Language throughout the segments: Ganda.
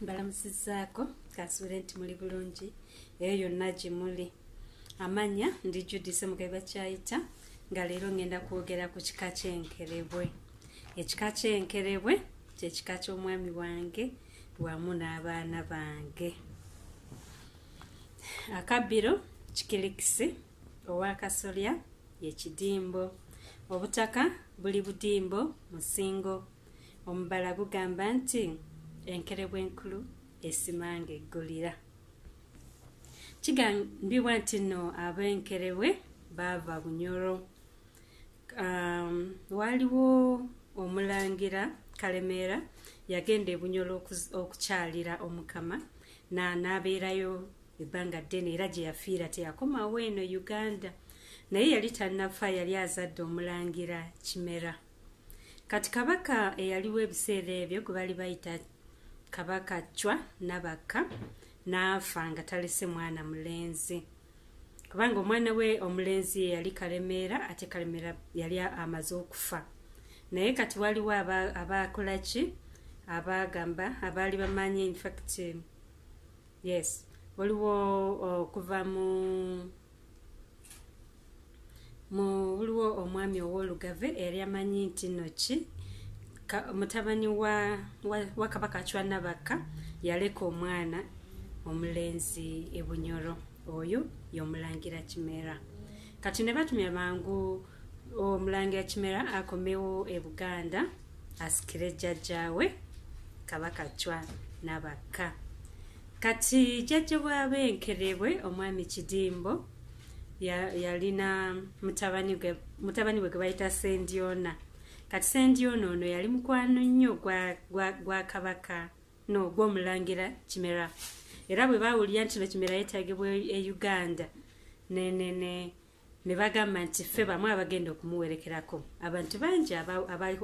mbalamusizaako kasuule nti muli bulungi eyo yonna gye muli amanya ndi judise mugaiba kyayita nga leero ŋŋenda kwogera ku kika ky'enkerebwe ekika ky'enkerebwe kyekika ky'omwami wange wamu n'abaana bange akabbiro kikilikisi owakasolya yekidimbo obutaka buli budimbo musingo omubala gugamba nti enkerebwa enkulu esimanga eggulira kigambibwa nti no abenkerebwe baava bunyoro um, waaliwo omulangira kalemeera yagenda ebunyoro okukyalira omukama naabeerayo ebbanga ddene era gye yafiira teyakomawo eno uganda naye yali tannafa yali azadde omulangira kimera kati kabaka eyaliwo ebiseera ebyo gwe bali bayita kabaka cwa nabakka n'afa nga talese mwana mulenzi kubanga omwana we omulenzi ye yali kalemeera ate kalemeera yali amaze okufa naye kati waliwo abaakolaki aba abagamba abaali bamanyi infact yes waliwo okuva mu mu waliwo omwami ow'olugave eyali amanyi nti noki mutabani wa, wa, wa kabaka acwa nabakka yaleka omwana omulenzi ebunyoro oyo yomulangira kimera kati ne batumya bangu omulangira kimera akomewo e buganda asikire jjajjaawe kabaka cwa nabakka kati jjajja bwaba enkerebwe omwami kidimbo yalina mutabani we gwebayita sendyona kati sendyona ono yali mukwano nnyo gwa kabaka no gwomulangira kimera era bwe bawulira nti no kimera yetagibwa e uganda nenene ne, ne, ne bagamba nti ffe bamu abagenda okumuwerekerako abantu bangi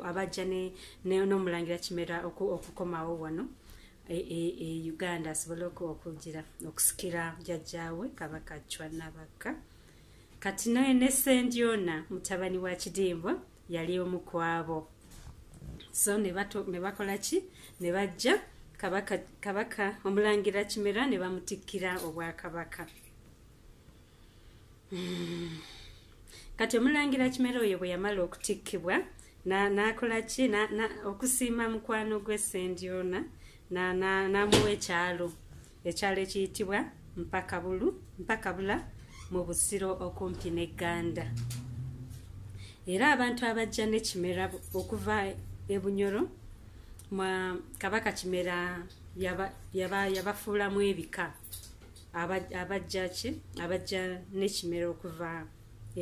abajja n'omulangira kimera okukomawo wano e, e, e uganda asobole okugira okusikira jajjaawe kabaka cwanabakka kati naye ne sendyona mutabani wa kidimbwa yali omu kwabo so ne bakola ki ne bajja kabaka omulangira kimera ne bamutikkira obwakabaka hmm. kati omulangira kimera oyo bwe yamala okutikkibwa nakola ki okusiima mukwano gwe sendyona namuwa ekyalo ekyalo ekiyitibwa mpakabulu mpakabula mu busiro okumpi ne ganda era abantu abajja ne kimera okuva ebunyoro mwa kabaka kimera yabafuulamu ebika abajja ki abajja n'ekimera okuva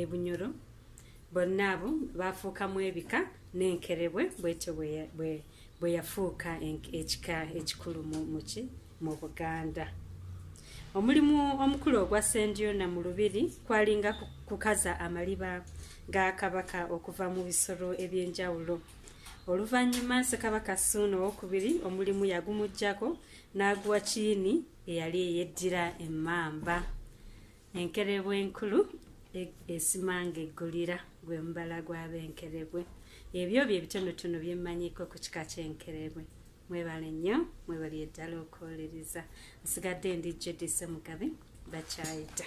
ebunyoro bonna abo baafuukamu ebika n'enkerebwe bwetyo bwe yafuuka ekika ekikulu muki mu buganda omulimu omukulu ogwa sendyona mu lubiri kwalinga kukaza amaliba ga kabaka okuva mu bisolo eby'enjawulo oluvannyuma sekabaka suuna owokubiri omulimu yagumugyako n'aguwa kiini eyali eyeddira emmamba enkerebwe enkulu e-, esimanga eggulira gwe mubala gw'abenkerebwe ebyo bye bitonotono bye mmanyiko ku kika ky'enkerebwe mwebale nnyo mwebali eddala okuwolereza nsigadde ndi jodise mugabe bakyayita